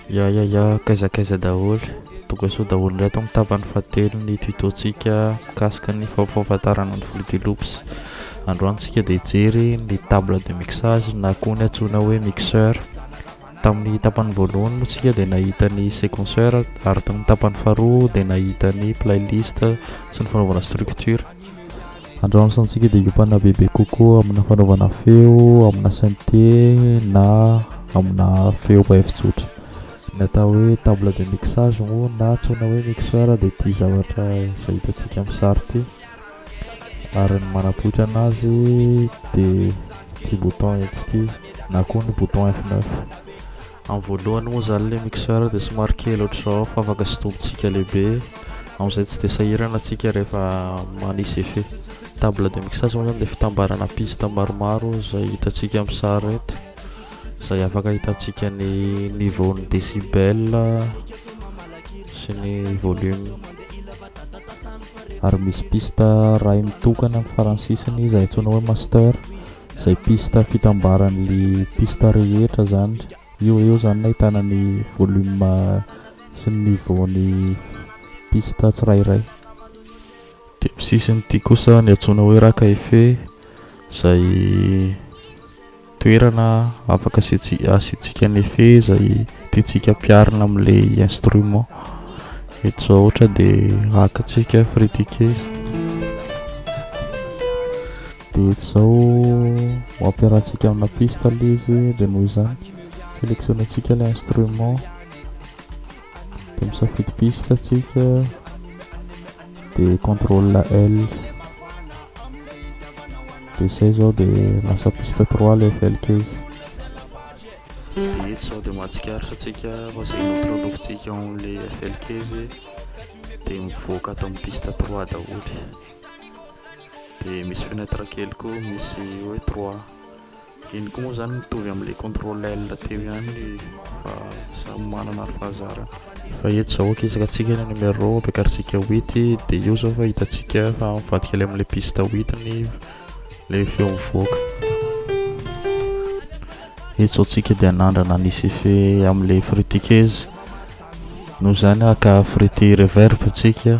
Ya ya ya, kaiza kaiza daholo. Tonga soa daholo indray ato amin'ny tapany fahatelo ny tuto-tsika mikasika ny fampahafantarana ny Fruity Loops. Androany tsika dia hijery ny table de mixage na koa ny antsoina hoe mixeur. Tamin'ny tapany voalohany moa tsika dia nahita ny sequenceur ary tamin'ny tapany faharoa dia nahita ny playlist sy ny fanaovana structure. Androany santsika dia hiompanana bebe kokoa amina fanaovana feo amina synthé na amina feo ba efitsotra. Ny atao hoe table de mixage moa na antsoina hoe mixeur dia ity zavatra izay hitantsika amin'ny sary ity. Ary ny manapoitra anazy dia ity bouton ety ity na koa ny bouton F9. Am voalohany moa zany le mixeur de somary kely otrzao fa afaka sintomintsika lehibe amzay tsy de sahirana tsika rehefa manisy effet. Table de mixage moa zany de fitambarana piste maromaro zay hitantsika am sary eto zay afaka hitantsika ny niveau ny decibel sy ny volume. Ary misy piste ray mitokana am farany sisiny zay antsoina hoe master. Zay piste fitambaran'ly piste rehetra zany io eo zany nahitana ny volume sy ny niveau ny piste tsirairay. Dia am sisiny ity kosa ny antsoina hoe Raka Effet izay toerana afaka asiantsika ny effet izay tiantsika ampiharina amin'ilay instrument. Eto izao ohatra dia hakantsika fritiquet. Dia eto izao ho ampiarahantsika amina piste aloha izy dia noho izany sélectionner-ntsika ilay instrument dia misafidy piste tsika dia contrôle L dia izay izao dia lasa piste 3 ilay FLK izy dia eto izao dia mahatsikaritra tsika fa izay notrolofintsika ao amin'ilay FLK izy dia mivoaka ato amin'ny piste 3 daholo dia misy fenêtre kely koa misy hoe trois iny koa moa zany mitovy amin'ilay contrôle L teo ihany fa samy manana ary fahazarana fa eto zao akizaka tsika ny numéro ampiakarintsika huit dia io zao fa hitantsika fa mivadika ilay amin'ilay piste huit ny ilay feo mivoaka eto zao tsika dia nandrana ny sife amin'ilay frutikeze noho izany haka frity reverb tsika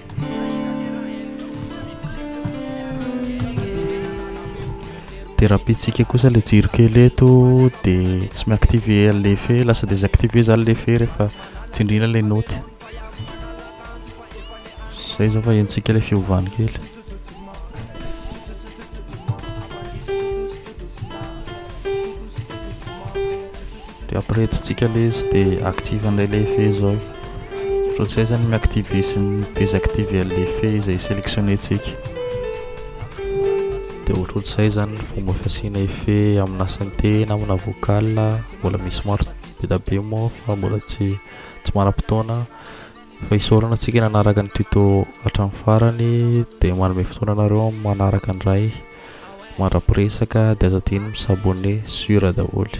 Dia raha bitsika kosa ilay jiro kely eto dia tsy mi-activer ilay fe, lasa désactiver zany ilay fe rehefa tsindriana ilay note. Izay izao fa henontsika ilay fiovany kely. de après tsika le izy de active an'ilay le effet zao ohatr'izay zany mi active sy ny désactive an'ilay effet izay sélectionné tsika de ohatr'ohatr'izay zany ny fomba fasiana effet amina synthé na amina vocal mbola misy maro be dia be moa fa mbola tsy tsy manam-potoana Fa isaorana antsika nanaraka ny tuto hatramin'ny farany dia manome fotoana anareo manaraka indray mandra-piresaka dia aza adino mi s'abonner sur daholo.